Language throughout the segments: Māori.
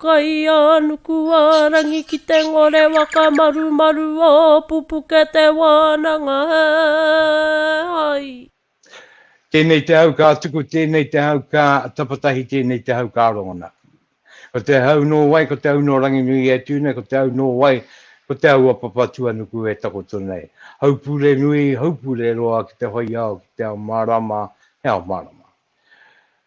Kaianukuarangi ki te ngore whakamarumaru o pupuke te wānanga he hai. Tēnei te hau ka tuku tēnei te hau ka tapatahi tēnei te hau ka rongona. Ko te hau nō wai ko te hau nō Ranginui e tū nei ko te hau nō wai ko te hau a Papatuanuku e takoto nei. Haupure nui, haupure roa ki te whai ao ki te ao mārama he ao mārama.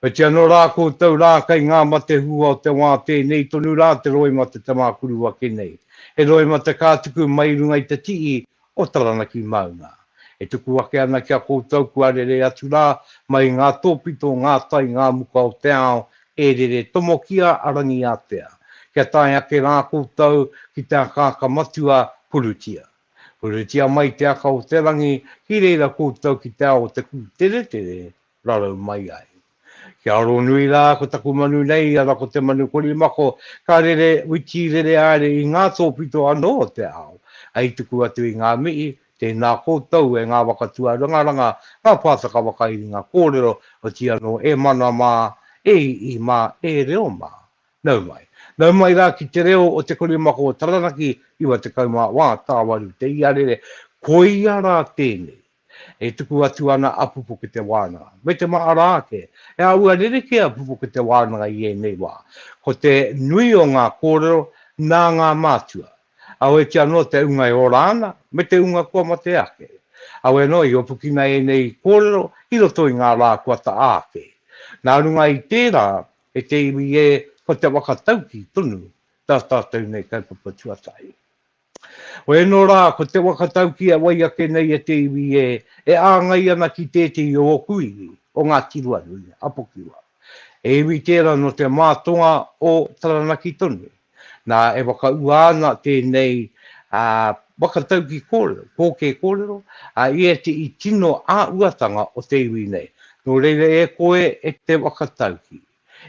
Pēti anō rā koutou rā kei ngā mate hua o te wā tēnei tonu rā te roimata te mākuru ake nei. He roimata ka tuku mai i runga i te tii o Taranaki Maunga. E tuku ake ana ki a koutou kua rere atu rā mai i ngā tōpito, ngā tai, ngā muka o te ao e rere tomokia a Rangiātea. Kia tae ake rā koutou ki te akaaka matua, purutia. Purutia mai te aka o te rangi ki reira koutou ki te ao o te kūteretere, rarau mai ai. Kia aro nui rā ko taku manu nei ana ko te manu korimako ka rere witi rere aere i ngā tōpito anō o te ao, hei tuku atu i ngā mihi, tēnā koutou e ngā waka tuarangaranga, ngā pātaka whakairinga kōrero, oti anō e mana mā, e ii mā, e reo mā. Nau mai. Nau mai rā ki te reo o te korimako o Taranaki 94 tāwaru te iarere, koia rā tēnei. E tuku atu ana a Pupuke Te Wānanga, me te maha rā ake, he āhua rerekē a Pupuke Te Wānanga i ēnei wā. Ko te nui o ngā kōrero nā ngā mātua, awetia anō te ūnga e ora ana, me te ūnga kua mate ake. Awe anō i opukina ēnei kōrero i roto i ngā rā kua taa ake. Nā runga i tērā, e te iwi ē, ko te waka tauki tonu tā tātou nei kaupapa tuatahi. Oēnō rā, ko te waka tauki a wai ake nei e te iwi ē, e āngai ana ki tētehi o ōku iwi, o Ngāti Ruanui, a Pokiwa. He iwi tērā nō te mātonga o Taranaki tonu. Nā, e whakaūā ana tēnei waka tauki kōrero, pōkē kōrero, i ēti i tino āuatanga o te iwi nei. Nō reira e koe e te waka tauki,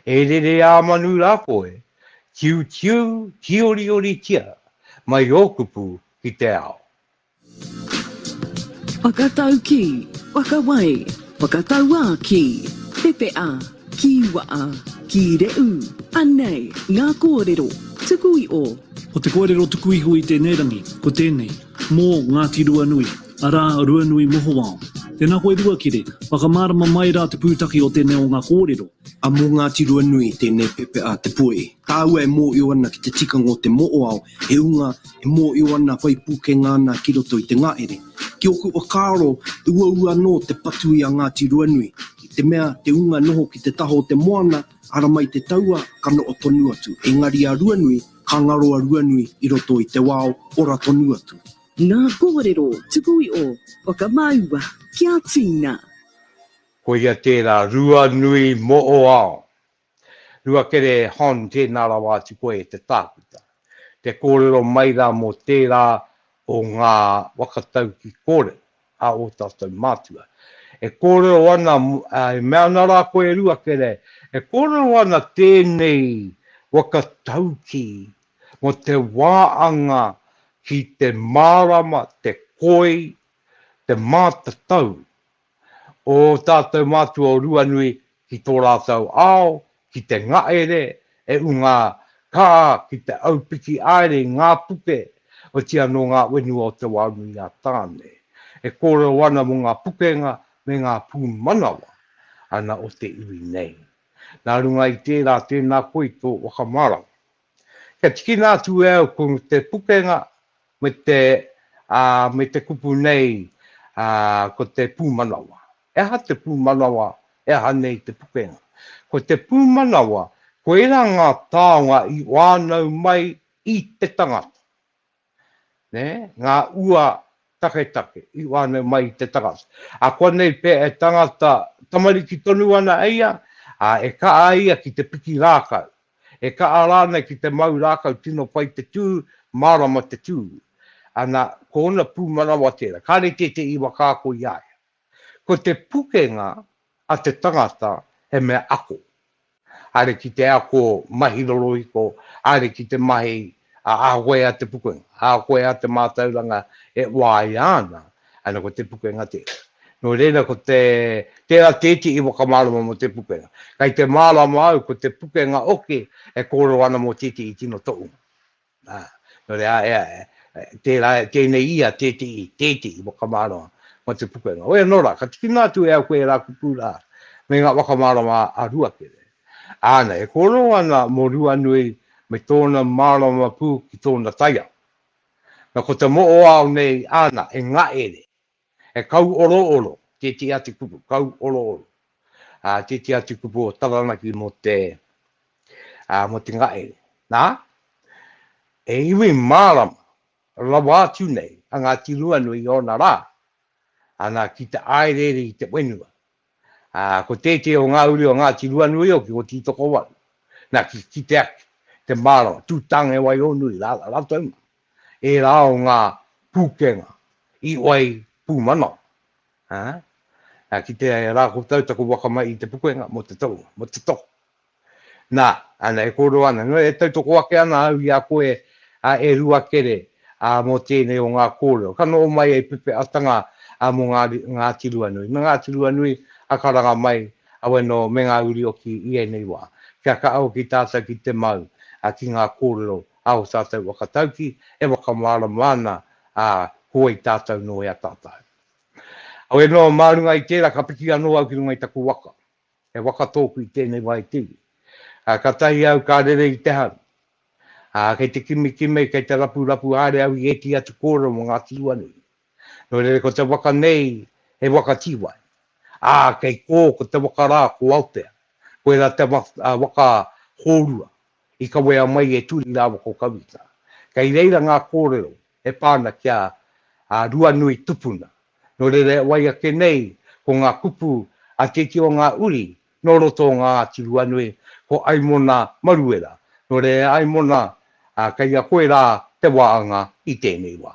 E rere ā manu rā koe, tiutiu tiorioritia mai ō kupu ki te ao. Whakataukī, whakawai, whakatauā kī, pepeā, kīwaā, kīreū, anei ngā kōrero tuku i o. Ko te kōrero tuku iho i tēnei rangi, ko tēnei. Mō Ngāti Ruanui, arā, Ruanui Mohowao. Tēnā koe Ruakere, whakamārama mai rā te pūtake o tēnei o ngā kōrero. A mō Ngāti Ruanui tēnei pepe a Te Puehi. Kāua e mōhio ana ki te tikanga o te moʻoao, he unga e mōhio ana, whai pūkenga ana ki roto i te ngahere. Ki ōku whakaaro, he uaua anō te patu i a Ngāti Ruanui, i te mea, te unga e noho ki te taha o te moana, ara mai te taua, ka noho tonu atu. Engari a Ruanui, Ka ngaro a Ruanui i roto i te wao, ora tonu atu. Nā kōrero tuku i o. Whakamaua kia tīna. Koia tērā Ruanui Moʻoao. Ruakere Hon tēnā rawa atu koe e te tākuta. Te kōrero mai rā mō tērā o ngā waka tauki kōrero. a ō tātou mātua. E kōrero ana, e mea ana rā koe e rua kere, e kōrero ana tēnei waka taukī mō te wā anga ki te mārama, te koi, te mātatau o ō tātou mātua o Ruanui ki tō rātou ao, ki te ngaere, e unga kā ki te aupiki aere i ngā puke, otiia nō ngā whenua o Te Wānui-a-Tāne, e kōrero ana mō ngā pukenga me ngā pūmanawa ana o te iwi nei. Nā runga i tērā, tēnā koe i tō whakamārama. Kia tikina atu e au ko te pukenga me te, ā, me te kupu nei, ā, ko te pūmanawa. He aha te pūmanawa, he aha nei te pukenga? Ko te pūmanawa, koirā ngā taonga i whānau mai i te tangata. nē, ngā ua taketake i whānau mai i te tangata. Akuanei pea e tangata tamariki tonu ana e ia, ā, e kaha ia ki te piki rākau, e kaha rānei ki te mau rākau tino pai te tū, mārama te tū. Ana, ko ōna pūmanawa tērā, kāre tētehi iwa ka ako i a ia. Ko te pukenga a te tangata he mea ako, haere ki te ako mahi rorohiko, haere ki te mahi a Ahuea Te Pukenga, Ahuea te mātauranga e waia ana, ana ko Te Pukenga tērā. Nō reira ko te, tērā te iti i whakamārama mō Te Pukenga. Kei te mārama au ko Te Pukenga hoki e kōrero ana mō te iti i tino tohunga. Ā, nō reira, ā, ea, tērā, tēnei ia, tēteī, tēteī whakamārama mō te pukenga. Hoi anō rā, ka tikina atu e au koe ērā kupu rā, me ngā whakamārama a Ruakere. Āna, e kōrero ana mō Ruanui me tōna mārama pū ki tōna taiao. Nā, ko te moʻoao nei āna, e Ngaʻere, He kauorooro tētehi atu kupu, kauorooro, ā, tētehi atu kupu o Taranaki mō te, ā, mō te ngahere. Nā, he iwi mārama rawa atu nei a Ngāti Ruanui i ōna rā, ana ki te āereere i te whenua, Ā, ko tētehi o ngā uri o Ngāti Ruanuioki, ko Tītokowaru. Nā, ki te kite ake, te mārama, tū Tāngewaihōnui rā rātou mā, ērā o ngā pūkenga i wai pūmanawa, ā, ki te rā koutou taku waka mai i te pukenga mō te tohunga, mō te tohu, Nā, ana e kōrero ana, nō e tautoko ake ana au i a koe, ā, e Ruakere, ā, mō tēnei o ngā kōrero, ka noho mai hei pepeatanga, ā, mō ngā, Ngāti Ruanui, me Ngāti Ruanui, ā, ka ranga mai, awe nō, me ngā uri oki i ēnei wā, kia kaha hoki tātou ki te mau, ā, ki ngā kōrero, ā, o tātou whakataukī e whakamārama ana, ā, ko wai tātou nō e ataata ai. Awe nō, mā runga i tērā ka piki anō au ki runga i taku waka. He waka tōku i tēnei wā e te iwi. Kātahi au ka rere i te hau. Kei te kimikimi, kei te rapurapu haere au i ētehi atu kōrero mō ngā tīua nui. Nō reira ko te waka nei he waka tīwai, ā, kei kō ko te waka rā ko Aotea. Koirā te waka hōrua i kawea mai e Turi rāua ko Kawita. Kei reira ngā kōrero e pā ana ki a Ruanui tupuna. Nō reira e wai ake nei ko ngā kupu a te iti o ngā uri nō roto o Ngāti Ruanui, ko Aimona Maruera. Nō reira e Aimona, kei a koe rā te waanga i tēnei wā.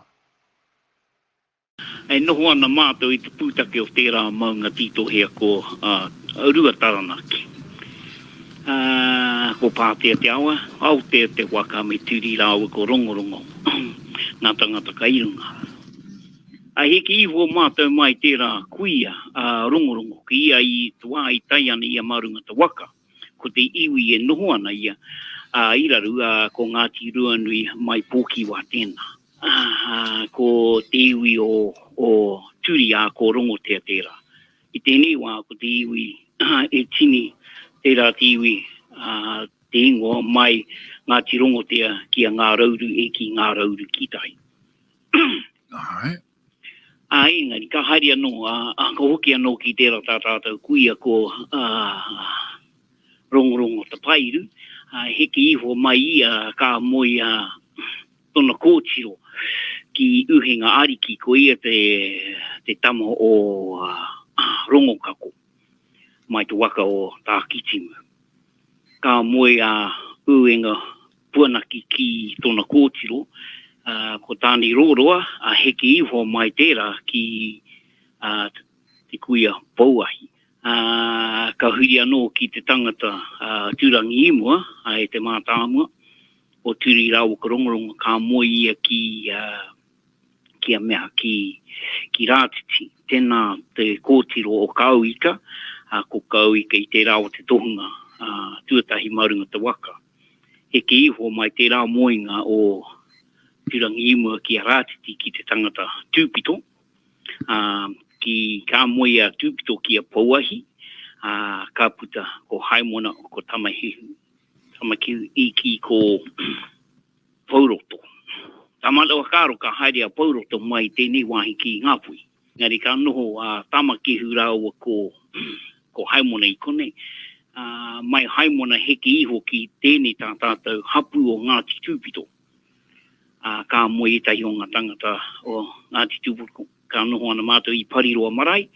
E noho ana mātou i te pūtake o tērā maunga tītohea ko Ruataranaki. Ko Pātea te awa, Aotea te waka me Turi rāua ko Rongorongo ngā tangata kai runga. I heke iho mātou mai tērā kuia a Rongorongo ki ia i te wā i tae ana ia mā runga te waka. Ko te iwi e noho ana ia i raru ko Ngāti Ruanui mai Pōkiwa tēnā. Aha, ko te iwi o Turi, ā, ko Rongotea tērā. I tēnei wā, ko te iwi e tini, tērā te iwi, ā, te ingoa mai Ngāti Rongotea ki a Ngā Rauru e ki Ngā Rauru ki tai. Āe. Ā, engari, ka haere anō, ā, ka hoki anō ki tērā tā tātou kuia ko Rongorongo Tapairu, ā, heke iho mai ia ka moe, ā, Tona kōtiro ki Uhenga Ariki ko ia te tama o Rongokako mai te waka o Tākitimu. Ka moe a Uenga Puanaki ki tona kōtiro, ko Tāne Roroa a heke iho mai tērā ki te kuia Pouahi. Ka huri anō ki te tangata a Turangiimua, a e te mātāmua o Turi rāua ko Rongorongo, ka moe ia ki ki a mea, ki ki Rātiti. Tēnā te kōtiro o Kaauika, a ko Kaauika i tērā o te tohunga tuatahi mā runga te waka. Heke iho mai tērā moenga o Turangiimua ki a Rātiti ki te tangata Tūpito, Ā, ki kā moe a Tūpito ki a Pouahi, ā, ka puta ko Haemona, ko Tamahihu, Tamakihu i kī ko Pouroto, Ka mana whakaaro ka haere a Pouroto mai i tēnei wāhi ki Ngāpuhi. Engari ka noho a Tamakihu rāua ko ko Haemona i konei, ā, mai Haemona heke iho ki tēnei tā tātou hapū o Ngāti Tūpito. ā, ka moe ētahi o ngā tāngata o Ngāti Tūpoko, ka noho ana mātou i Pariroa marae,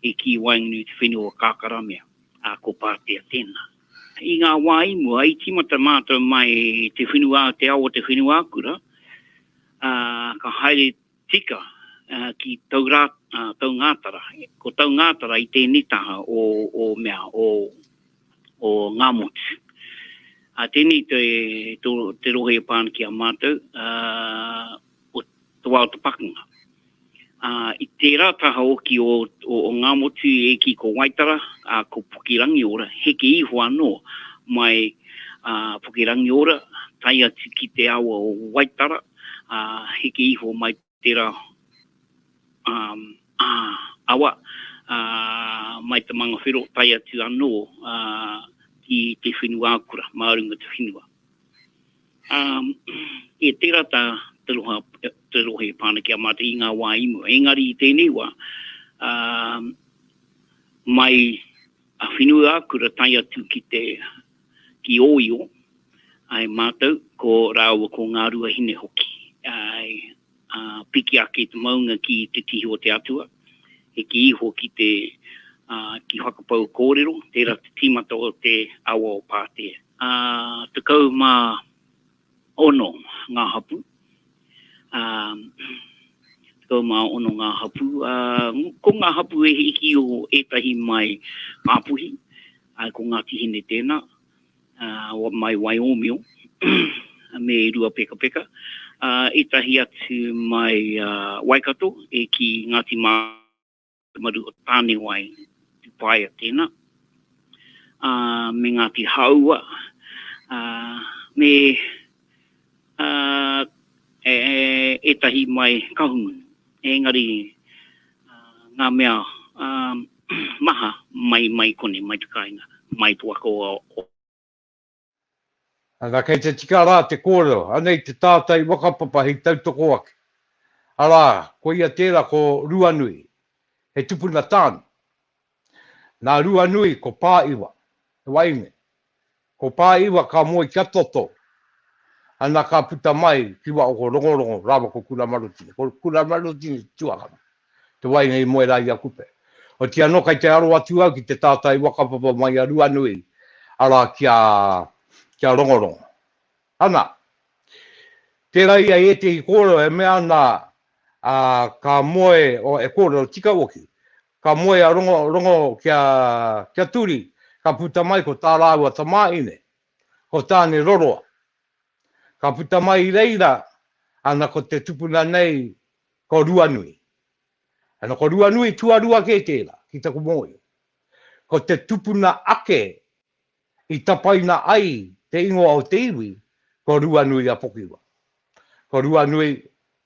e kī i waenganui i te whenua o Kākaramea, ā, ko Pātea tēnā. I ngā wā i mua, i tīmata mātou mai i te whenua, te ao o te whenuakura, ā, ka haere Tika, ki Taungātara. Ko Taungātara i tēnei taha o mea, o Ngāmotu. Tēnei te rohe e pā ana ki a mātou, o te wā o te pakanga. I tērā taha oki o Ngāmotu e ki ko Waitara, ko Pukerangiora, heke iho anō mai Pukerangiora, tae atu ki te awa o Waitara. a hiki iho mai tera awa mai te mangawhero tae atu ano ki te whenua akura ma runga te whenua. E tera ta te rohe e pana ki a matou i nga wa i mua, engari i tenei wa mai A Whenuiākura tae atu ki te, ki Ōio, ae mātou, ko rāua ko Ngāruahine hoki, ae, a piki ake te maunga ki te tihi o te Atua, heke iho ki te, a, ki whakapau kōrero, tērā te tīmata o te awa o Pātea. A tekau mā Ono ngā hapū, ā, tekau mā ono ngā hapū, ā, ko ngā hapū e hiki i o ētahi mai Ngāpuhi, ā, ko Ngāti Hine tēnā, ā, mai Waiōmio, me Ruapekapeka, ā, ētahi atu mai Waikato e ki Ngāti Mā. te maru o Tānewai, Tupaia tēnā, ā, me Ngāti Hāua, ā, me, ā, e, ētahi mai Kahungunu. Engari, ā, ngā mea, ā, maha mai, mai kone, mai te kāinga, mai te waka o, o. Ana, kei te tika rā te kōrero, anei te tātai whakapapa hei tautoko ake. Arā, koia tērā ko Ruanui, he tupuna tāne. Nā Ruanui ko Pāiwa, he waeine. Ko Pāiwa ka moe kia toto, ana ka puta mai ki Waohororongo rāua ko Kuramarutini. Ko Kuramarutini te tuakana. te waina i moe rā i a Kupe. Oti anō kai te aro atu au ki te tātai wakapapa mai a Ruanui, arā ki a, ki a Rongorongo. Ana, tērā i a ētehi kōrero e mea ana, ā, ka moe, o, e kōrero tika hoki, ka moe a Rongorongo ki a, ki a Turi, ka puta mai ko tā rāua tamāhine, ko Tāne Roroa. Ka puta mai i reira, ana ko te tupuna nei Ko Ruanui. Ana, ko Ruanui tuarua kē tērā, ki taku mōhio. Ko te tupuna ake i tapaina ai te ingoa o te iwi, ko Ruanui-a-Pokiwa. Ko Ruanui,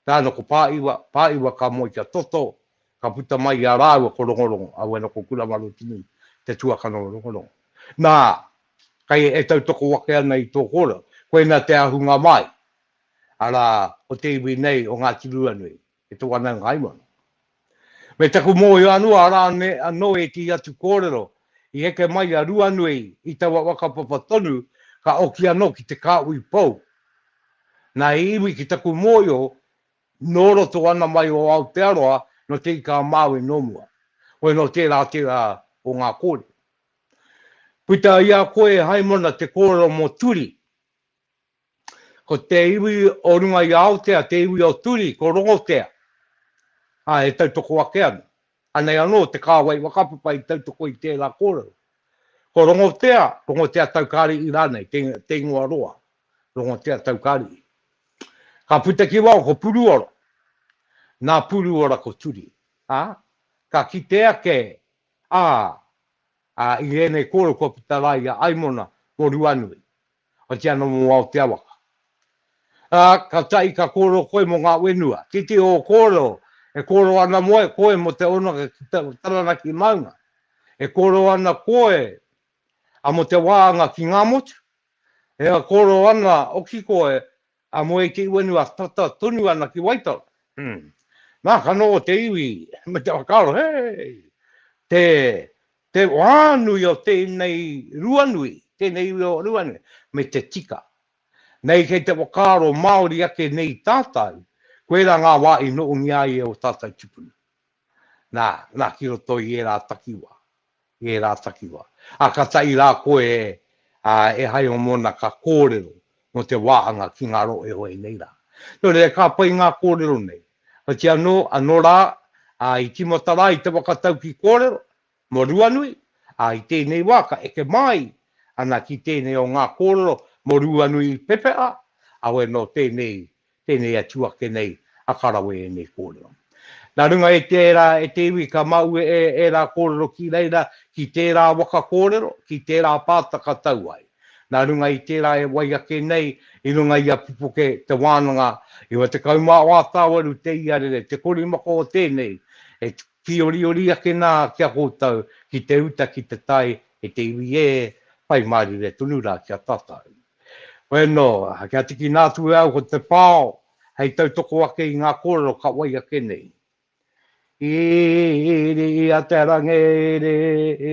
tāna ko Pāiwa, Pāiwa ka moe kia toto, ka puta mai i a rāua ko Rongorongo, aua nō ko Kuramarotini te tuakana o Rongorongo. Nā, kei e tautoko ake ana i tō kōrero, koinā te ahunga mai, arā, ko te iwi nei o Ngāti Ruanui, e te wanaungaimoana. Me taku mōhio anō, arā anō ētehi atu kōrero i heke mai i a Ruanui i taua whakapapa tonu ka oki anō ki te kāhui pou. Nā he iwi ki taku mōhio nō roto ana mai o Aotearoa, nō Te Ika-a-Māui nō mua. Koe nō tērā tērā o ngā kōrero. Puta i a koe e Haimona te kōrero mō Turi, Ko te iwi o runga i a Aotea, te iwi o Turi, ko Rongotea, ā, e tautoko ake ana. Anei anō te kāwai whakapapa i tautoko i tērā kōrero. Ko Rongotea, Rongotea Taukariʻi rānei, te, te ingoa roa, Rongotea Taukariʻi. Ka puta ki waho ko Puruora, nā Puruora ko Turi, ā, ka kite ake, ā, ā, i ēnei kōrero kua puta rā i a Aimona mō Ruanui, Whakati ana mō ngā o te awaka. Ā, ka tahi ka kōrero koe mō ngā whenua. Titiro ō kōrero, e kōrero ana moe koe mō te ono ki te Taranaki maunga. E kōrero ana koe a mō te wāanga ki ngā motu. E kōrero ana hoki koe A moe te uanua tata tonu ana ki Waitara, hum, na ka noho te iwi me te whakaaro, hei! te, te whānui o tēnei Ruanui, tēnei iwi o Ruanui, me te tika. Nei kei te whakaaro Māori ake nei tātau, koirā ngā wā i nohongia ai e o tātau tupuna. Nā, nā ki roto i ērā takiwā, i ērā takiwā. Ā, ka taʻi rā koe e, ā, e hai o Mona ka kōrero mō te wāhanga ki ngā rohe hoi nei rā. Nō reira, ka pai ngā kōrero nei. Otianō, anō rā, ā, i tīmata rā i te whakatau ki kōrero, Mō Ruanui, ā, i tēnei wā ka eke māi ana ki tēnei o ngā kōrero mō Ruanui i pepeha, awe nō tēnei, tēnei atu ake nei a ka rawe ēnei kōrero. Nā runga i tērā e te iwi ka mau e ērā kōrero ki reira ki tērā waka kōrero, ki tērā pāta ka tau ai. Nā runga i tērā e wai ake nei i runga i a Pupuke te wānanga, 98 tāwaru te iarere, te korimako o tēnei e Whīoriori ake nā ki a koutou ki te uta ki te tae e te iwi ē, whai mārire tonu rā ki a tātou. Koe anō, kia tikina atu e au ko te pao hei tautoko ake i ngā kōrero ka wai ake nei. Iri i a te rangi, iri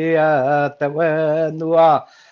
i a te whenua.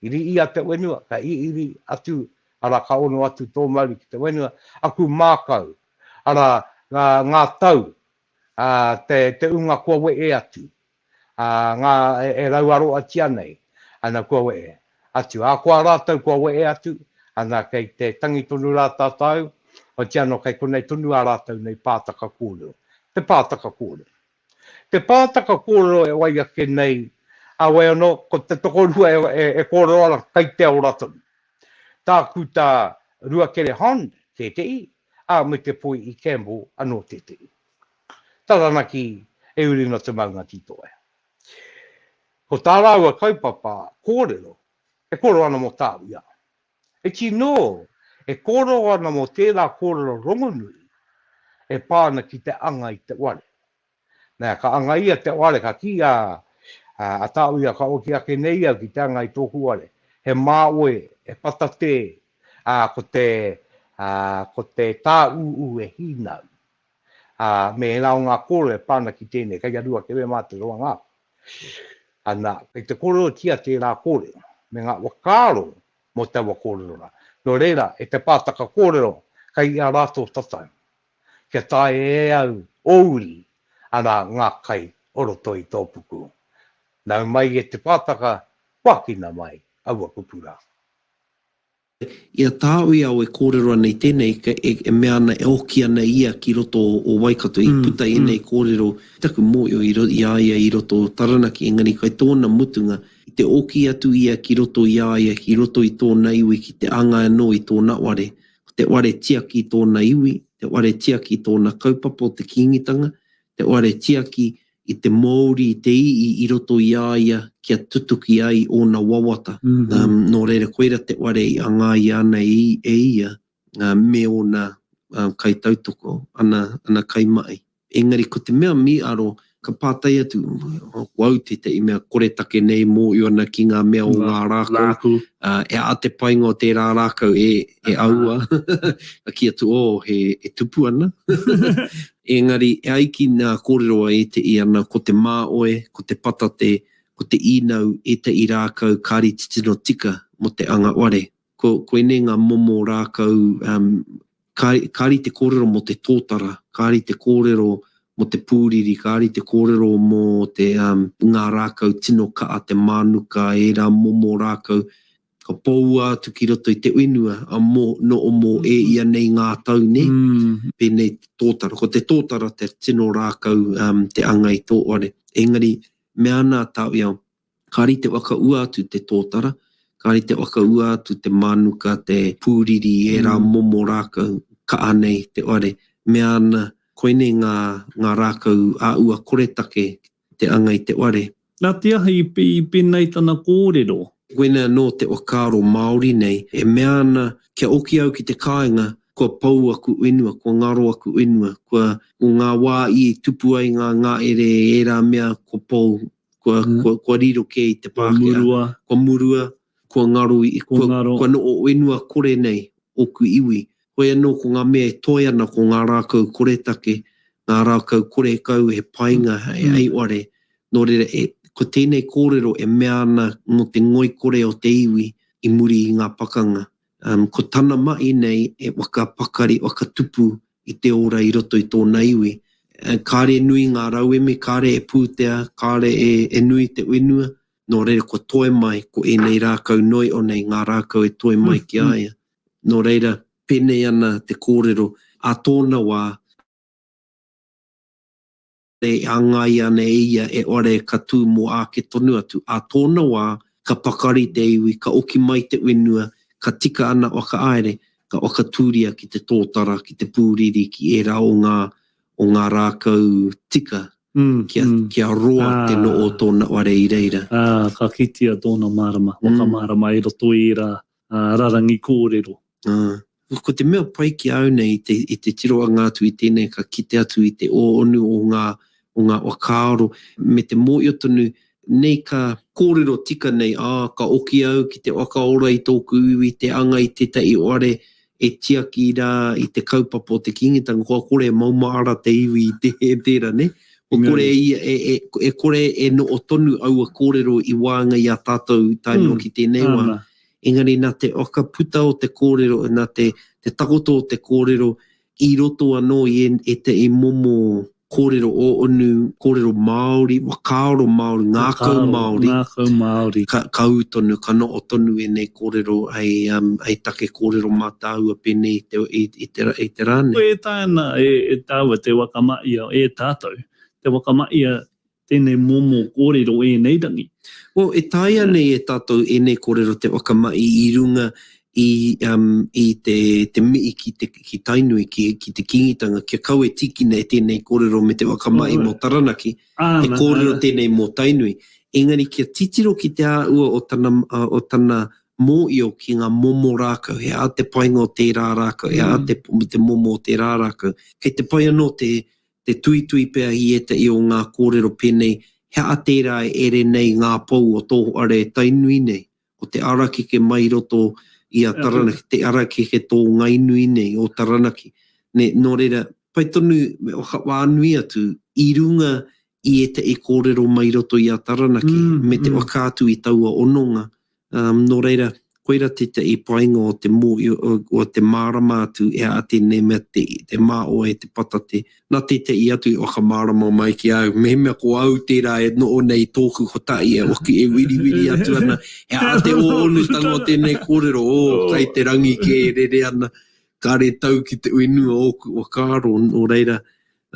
Iri ia te wenua, ka iri atu, ara, ka ono atu to mauri ki te wenua, aku makau, ara, nga, nga tau, a, te, te unga kua wee atu, a, nga, e, e rauaroatia nei, ana, kua wee atu, a koa ratou kua wee atu, ana, kei te tangi tonu ra tatou, otiano kei konei tonu a ratou nei paataka kōrero, te paataka kōrero. Te pātaka kōrero e wai ake nei a wai anō, ko te tokorua e kōrero ana kei te ora tonu. Tāku tā Ruakere Hond tētehi, ā, me te poi i Campbell anō tētehi. Taranaki e uri ana te maunga titoea. Ko tā rāua kaupapa kōrero e kōrero ana mō tāu ia. He tino e kōrero ana mō tērā kōrero rongonui e pā ana ki te anga i te ware. Nā, ka anga ia te ware, ka kī a Tāwia, Ka oti ake nei au ki te anga i tōku ware. He māoe, he patatē, ā, ko te tāūū e hīnau. ā, me ērā o ngā kōrero e pā ana ki tēnei, kei a Ruakere mā te roanga ake. Anā, kei te kōrerotia tērā kōrero, me ngā whakaaro mō taua kōrero rā. Nō reira, e te pātaka kōrero, kei a rātou tatau, kia taea e au ō uri, arā, ngā kai o roto i tō puku. Nau mai e te pātaka, kua akina mai aua kupu rā. I a tāu i a au e kōrero ana i tēnei, e mea ana e oki ana ia ki roto o Waikato, i puta ēnei kōrero ki taku mōhio i a ia i roto o Taranaki, engari kai tōna mutunga, i te oki atu ia ki roto i a ia, ki roto i tōna iwi ki te anga anō i tōna ware. Ko te ware tiaki tōna iwi, te ware tiaki tōna kaupapa o te Kīngitanga, te ware tiaki i te Moori i te i'i i roto i a ia kia tutuki ai ona wawata. No reira koira te ware i angaia ana e ia me ona kaitautoko, ana kaimahi. Engari ko te mea miaro, ka patai atu ko au tetahi mea koretake nei moio ana ki nga mea o nga raku, e a te painga o tera rakau e aua, ki atu oh he tupu ana, Engari, e ai ki ngā kōrero a ēteī ana, ko te māoe, ko te patate, ko te īnau ēteī rākau kāri titiro tika mō te anga ware. Ko koinei ngā momo rākau, um, kāri, kāri te kōrero mō te tōtara, kāri te kōrero mō te pūriri, kāri te kōrero mō te, um, ngā rākau tino ka'a, te mānuka, ērā momo rākau, ka poua atu ki roto i te whenua a mo, no o mo e ia nei ngā tau ne, penei te totara, ko te totara te tino rakau um, te anga i to ware. Engari, mea ana a Tawiao, kari te whakaua atu te totara, kari te whakaua atu te manuka, te puriri, e ra momo rakau, kaa nei te ware, mea ana, koinei nga, nga rakau a ua koretake te anga i te ware. Na te aha i penei tana korero? Koina ano te whakaaro Maori nei e mea ana kia oki au ki te kaenga kua pou aku whenua, kua ngaro aku whenua, kua ko nga wa i tupu ai nga ngaere e era mea kua pou, kua kua kua riro ke i te Pakea. Kua murua. Kua murua, kua ngaro i, kua kua no o whenua kore nei oku iwi. Hoi anō ko ngā mea e toe ana ko ngā rākau koretake, ngā rākau korekau he painga hei aioare, nō reira ko tēnei kōrero e mea ana mō te ngoikore o te iwi i muri i ngā pakanga. Ko tana maʻi nei e whakapakari, whakatupu i te ora i roto i tōna iwi. Kāre e nui ngā rauemi, kāre e pūtea, kāre e nui te whenua, nō reira kua toe mai ko ēnei rākau noio nei ngā rākau e toe mai ki a ia. Nō reira, pēnei ana te kōrero, ā tōna wā, e āngaia ana e ia e ore ka tū mō āke tonu atu, ā tōna wā, ka pakari te iwi, ka oki mai te whenua, ka tika ana whakaāere, ka whakatūria ki te tōtara, ki te pūriri, ki ērā o ngā, o ngā rākau tika, kia, kia roa te noo o tōna ware i reira. Ā, ka kitea tōna mārama, whakamārama i roto i ērā rarangi kōrero. Ā, ko te mea pai ki a au nei i te, i te tirohanga atu i tēnei ka kite atu i te ōonu o ngā, o ngā whakaaro, me te mōhio tonu, nei ka. Kōrero tika nei, ā, ka oki au ki te whakaora i tōku iwi, te anga i tētahi whare, E tiaki ra i te kaupapa o te Kingitanga, kua kore e maumaara te iwi i te, e tera, ne? Kua kore e, e, e, e kore e noo tonu aua korero i waenga i a tatou tae noo ki tenei wa. Engari na te whakaputa o te korero, na te, te takoto o te korero i roto anoo i e, e te, i momo Kōrero ō-unu, kōrero Māori, whakaaro Māori, ngākau Māori. Whakaaro, ngākau Māori. Ka, ka ū tonu, ka noho tonu ēnei kōrero hei, um, hei take kōrero mātāua pēnei i te, i, i te, i te rā nei. Ko ētaina e, e tāua te waka ma ia, e tātou, te waka ma ia Tēnei momo kōrero ēnei rangi. Well, e taea nei e tātou ēnei kōrero te whakamahi i runga i, um, i te, te mihi ki, te, ki Tainui, ki, ki te Kīngitanga, kia kau e tīkina e tēnei kōrero me te whakamahi mō Taranaki, he kōrero tēnei mō Tainui. Engari kia titiro ki te āhua o tana, uh, o tana mōio ki ngā momo rākau, he aha te painga o tērā rākau, he aha te, te momo o tērā rākau. Kei te pai anō te, te tuitui pea i ētahi o ngā kōrero pēnei, He aha tērā e ere nei ngā pou o tō hoare e Tainui nei? Ko te arakeke mai i roto i a Taranaki, te arakeke tō Ngainui nei, o Taranaki. Nē, nō reira, pai tonu me whakawānui atu i runga i ētahi kōrero mai i roto i a Taranaki me te whakaatu i taua hononga Nō reira, koira tētahi painga o te mōhio, o te mārama atu e aha tēnei mea te mā o e te patate. Nā tētahi atu i whakamārama mai ki a au, mehemea ko au tērā e noho nei i tōku kotahi e hoki e wiriwiri atu ana, he aha te hōhonutanga o tēnei kōrero, ō, kai te rangi kē e rere ana, kāre tau ki te uinu o ōku whakaaro, nō reira,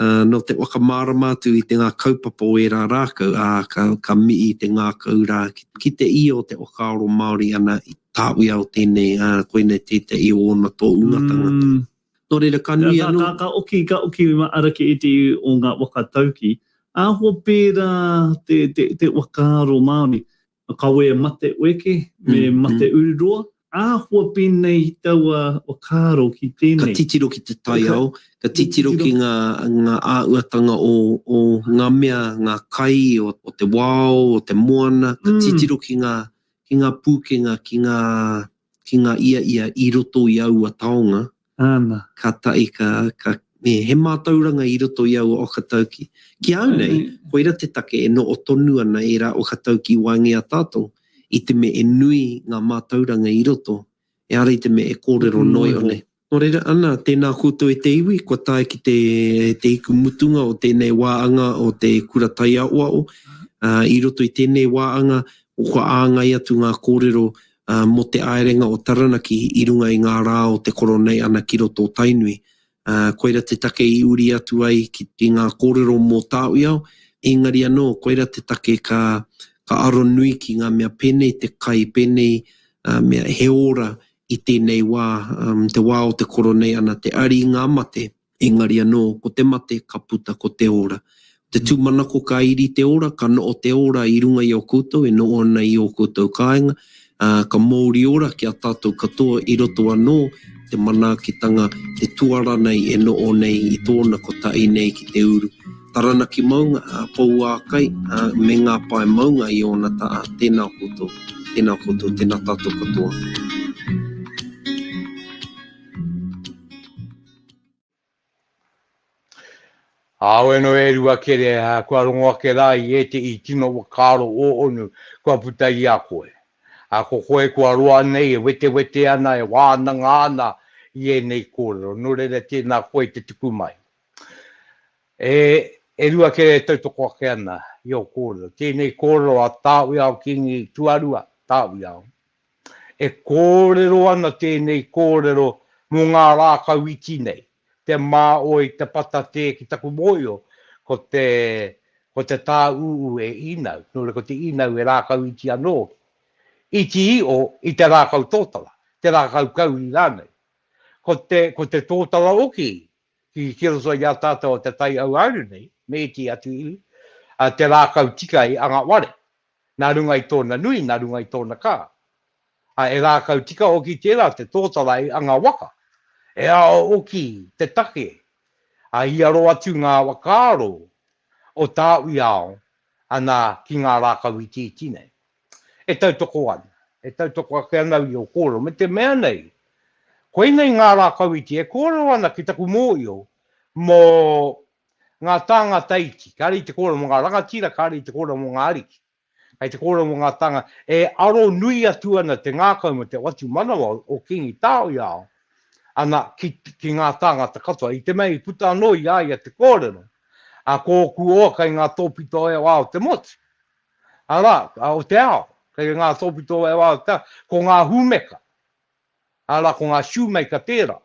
Nō te whakamārama atu i te ngā kaupapa o ērā rākau, ā, ka mihi te ngākau rā ki te ia o te whakaaro Māori ana i tāuia o tēnei, ā, koinei tētehi o ōna tōunga tangata. Nō reira, ka nui anō. Ka oki, ka oki ara ki ētehi o ngā waka tauki, āhua pērā te whakaaro Māori. a kawe e mate ueke, me mate ururoa, āhua pēnei i taua whakaaro ki tēnei. Ka titiro ki te taiao, ka titiro ki ngā āhuatanga o ngā mea, ngā kai o te wao, o te moana, ka titiro ki ngā pūkenga, ki ngā ia ia i roto i aua taonga, Ana. Ka tahi ka, ka, me he mātauranga i roto i aua okatauki. Ki au nei, koira te take e noho tonu ana ērā okatauki i waenga i a tātou, i te mea e nui ngā mātauranga i roto, ehara i te mea e kōrero noa iho nei. Nō reira, ana, tēnā koutou e te iwi, kua tae ki te, te hiku mutunga o tēnei wā anga o te Kura Taiaoao, ā, i roto i tēnei wā anga, kua āngai atu ngā kōrero ā, mō te āerenga o Taranaki i runga i ngā rā o te koro nei ana ki roto o Tainui, ā, koira te take i uri atu ai ki, ki ngā kōrero mō Tāwiao, ēngari anō, koira te take ka, ka aro nui ki ngā mea pēnei te kai, pēnei, ā, mea he ora i tēnei wā, ā, te wā o te koro nei ana, te ari i ngā mate, Engari anō, ko te mate ka puta ko te ora. Ko te tūmanako ka iri te ora, ka noho te ora i runga i a koutou e noho ana i ō koutou kāinga, ā, ka mouri ora ki a tātou katoa i roto anō i te manaakitanga, te tuara nei e noho nei i tōna kotahi nei ki te uru. Taranaki maunga, ā, pouākai, ā, me ngā pae maunga i ōna taha. Tēnā koutou, tēnā koutou, tēnā tātou katoa. Kāore anō e rua kere kua rongo ake rā i ētehi tino whakaaro o Onu kua puta i a koe. Ā, ko koe kua roa nei e wetewete ana, e wānanga ana i ēnei kōrero, nō reira tēnā koe te tuku mai. E, e rua kere e tautoko ake ana i ō kōrero, tēnei kōrero a Tāwiao Kīngi tuarua, Tāwiao, E kōrero ana tēnei kōrero mō ngā rākau iti nei, te mā oi te patatē ki taku mōhio ko te ko te tāūū e inau, nō reira ko te inau e rākau iti anō hoki. Iti iho i te rākau tōtara, te rākau kauri rānei. Ko te ko te tōtara hoki ki ki roto i a tātou o te taiauāuru nei, me ētehi atu iwi, te rākau tika i anga ware, nā runga i tōna nui, nā runga i tōna kā. Ā, e ngākau tika hoki tērā te tōtarai a ngā waka. E ao hoki te take, ā, i aro atu ngā whakaaro o tāu i ao ana ki ngā rākau itiiti nei. E tautoko ana, e tautoko ake ana au i ō kōrero, me te mea nei, koinei ngā rākau iti e kōrero ana ki taku mōhio mō Ngā tāngata iti, kāre i te kōrero mō ngā rangatira, kāre i te kōrero mō ngā ariki. Kei te kōrero mō ngā tānga, e aro nui atu ana te ngākau me te watu manawa o Kīngi Tāwhiao ana ki, ki ngā tāngata katoa. I te mea i puta anō i a ia te kōrero, a, ko ōku oa kei ngā tōpito e wā o te motu, arā, o te ao, kei ngā tōpito e wā o te ao, ko ngā hūmeka. Arā, ko ngā shoemaker tērā.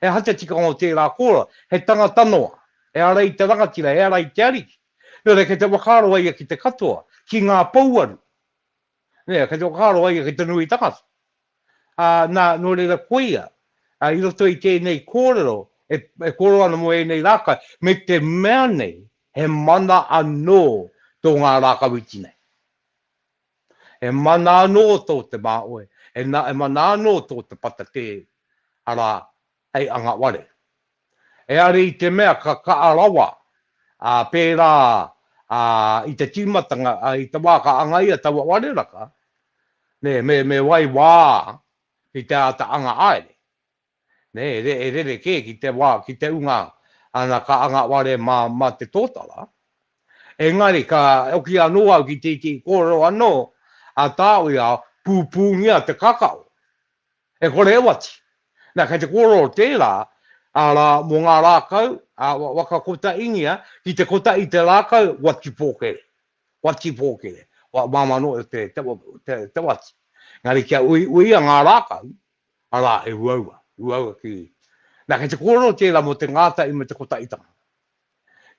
He aha te tikanga o tērā kōrero? He tangata noa. Ehara i te rangatira, ehara i te ariki. Nō reira, kei te whakaaro a ia ki te katoa, ki ngā pouaru. Nē, kei te whakaaro a ia ki te nui tangata. Ā, nā, nō reira, koia, ā, i roto i tēnei kōrero, e, e kōrero ana mō ēnei rākau, me te mea nei, he mana anō tō ngā rākau iti nei. E mana anō tō te māoe, e mana anō tō te patakē, arā, hei anga ware. Heare i te mea ka kaha rawa, ā, pērā i te tīmatanga, i te wā ka angaia taua ware raka, me waiwā ki te āta anga haere, nei, e rerekē ki te wā, ki te unga, ana ka anga ware mā, mā te tōtara. Engari ka hoki anō au ki te iti kōrero anō a Tāwia, pūpūngia te kakao. E kore e wati. Nā, kei te kōrero tērā, arā, mō ngā rākau, ā, waka kotaingia, ki te kota i te rākau, wati pōkere. Wati pōkere. Māmā noa te wati. Engari kia uiuia ngā rākau, Arā, he uaua, uaua ki. Nā, kei te kōrero tērā mō te ngātahi me te kotaʻitanga.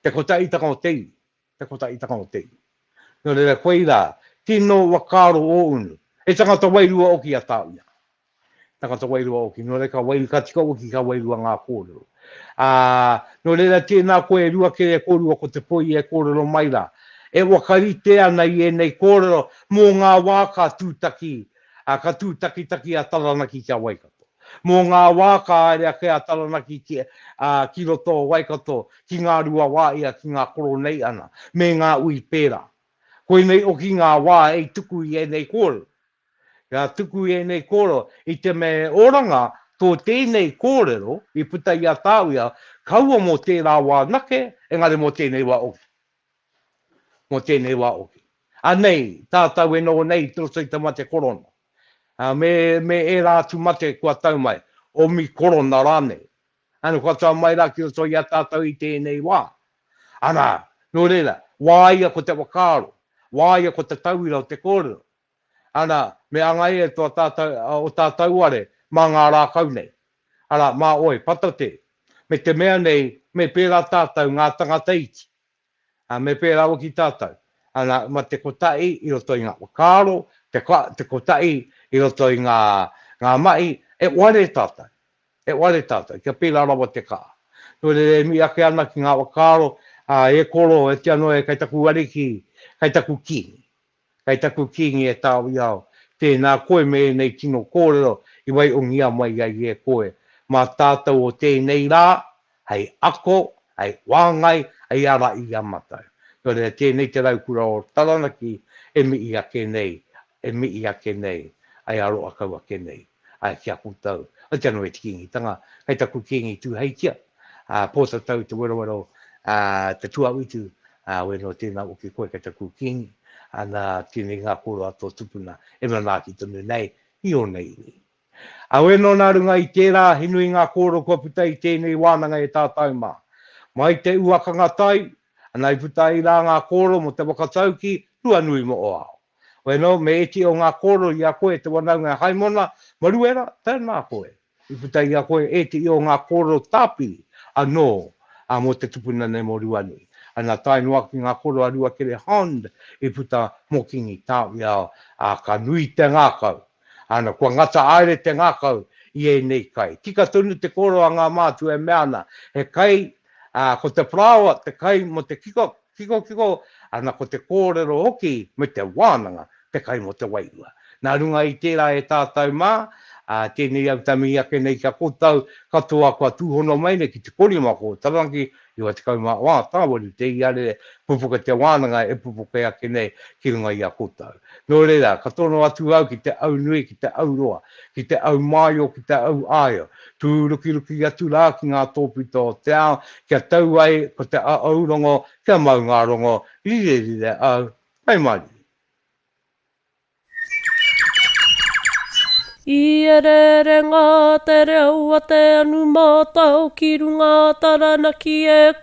Te kotaʻitanga o te iwi, te kotaʻitanga o te iwi. Nō reira, koe rā, tino ua karo ō unu. He tangata wairua oki a Tāwia. Tangata wairua oki. Nō reira, ka wairu, ka tika oki, ka wairua ngā kōrero. Ā, nō reira, tēnā koe e rua kē, e kōrua ko te poi e kōrero mai rā. E waka rite ana i ēnei kōrero mō ngā wā ka tūtaki ā, ka tūtakitaki a Taranaki ki a Waikato. Mō ngā wā ka haere ake a Taranaki ki, ā, ki roto o Waikato, ki ngā rua wā ia, ki ngā Koroneiana, me ngā ui pērā. Koinei hoki ngā wā hei tuku i ēnei kōrero. Ka tuku i ēnei kōrero, i te mea he oranga tō tēnei kōrero i puta i a Tāwia, kaua mō tērā wā anake, engari mō tēnei wā hoki. mō tēnei wā hoki. Anei, tātau e noho nei i te roto i te mate korona, ā, me, me ērā atu mate kua tau mai, omi korona rānei. Ānō kua tau mai rā ki roto i a tātau i tēnei wā. Arā, nō reira, wāia ko te whakaaro, wāia ko te tauira o te kōrero, arā, me anga e tō tātau, o tā tauare mā ngā rākau nei. Arā, mā ōe, patate, me te mea nei, me pērā tātau ngā tangata iti, Ā, me pērā rawa ki tātou. Ā, nā, ma te kotahi i roto i ngā whakaaro, te ko, te kotahi i roto i ngā, ngā mahi, e ware tātou. E ware tātou, kia pērā rawa te kaha. Nō reira e mihi ake ana ki ngā whakaaro, ā, e koro, e tino e, kei taku Ariki, kei taku Kīngi. Kei taku Kīngi e Tāwia au, tēnā koe me ēnei tino kōrero i waihongia mai ai e koe, mā tātou o tēnei rā, hei ako, hei whāngai, hei ara i a matou. Nō reira, tēnei te raukura o Taranaki e mihi ake nei, e mihi ake nei, hei aroa kau ake nei. ā, ki a koutou, au te anō e te Kīngitanga, kei taku Kīngi tūheitia, ā, pōtatau te werawero, ā, te tuawhitu, ā, wē nō tēnā hoki koe kei taku Kīngi, ā, nā, tēnei ngā kōrero a tō tupuna e manaaki tonu nei i ōna iwi. Ā, wē nō nā runga i tērā, he nui ngā kōrero kua puta i tēnei wānanga e tātou mā. Mai te uakanga tai, ana i puta ai rā ngā kōrero mō te whakatauki tuanui moʻoao. Weno, me iti o nga koro i a koe te wanaunga e Haimona, Maruera, tena koe. I puta i a koe iti o nga koro tapiri ano, a mo te tupuna nei mo Ruanui. Ana tae noa ki nga koro a Ruakere Hond i puta mo Kingi Tawiao, a ka nui te ngakau. Ana, kua ngata aere te ngakau i enei kai. Tika tonu te koro a nga mātua e mea ana, he kai, a, ko te paraoa te kai mo te kikok, Kikokiko, ana ko te kōrero hoki me te wānanga te kai mō te wairua. Nā runga i tērā e tātau mā, ā, tēnei au tamihi ake nei kia kotau katoa kua tūhono mai nei ki te korima ko Taranaki, 94 Tāwari te iarere pupuke te wānanga e pupuke ake nei ki runga i a kotau. Nō reira, ka tono atu au ki te au nui, ki te au roa. ki te au māio, ki te au āio, tūrukiruki atu rā ki ngā tōpito o te ao, kia tau ai ko te āu rongo, kia mau ngā rongo, rirerire au, hai mārire. I ereere ngā te reo a te anumātao ki runga a Taranaki e.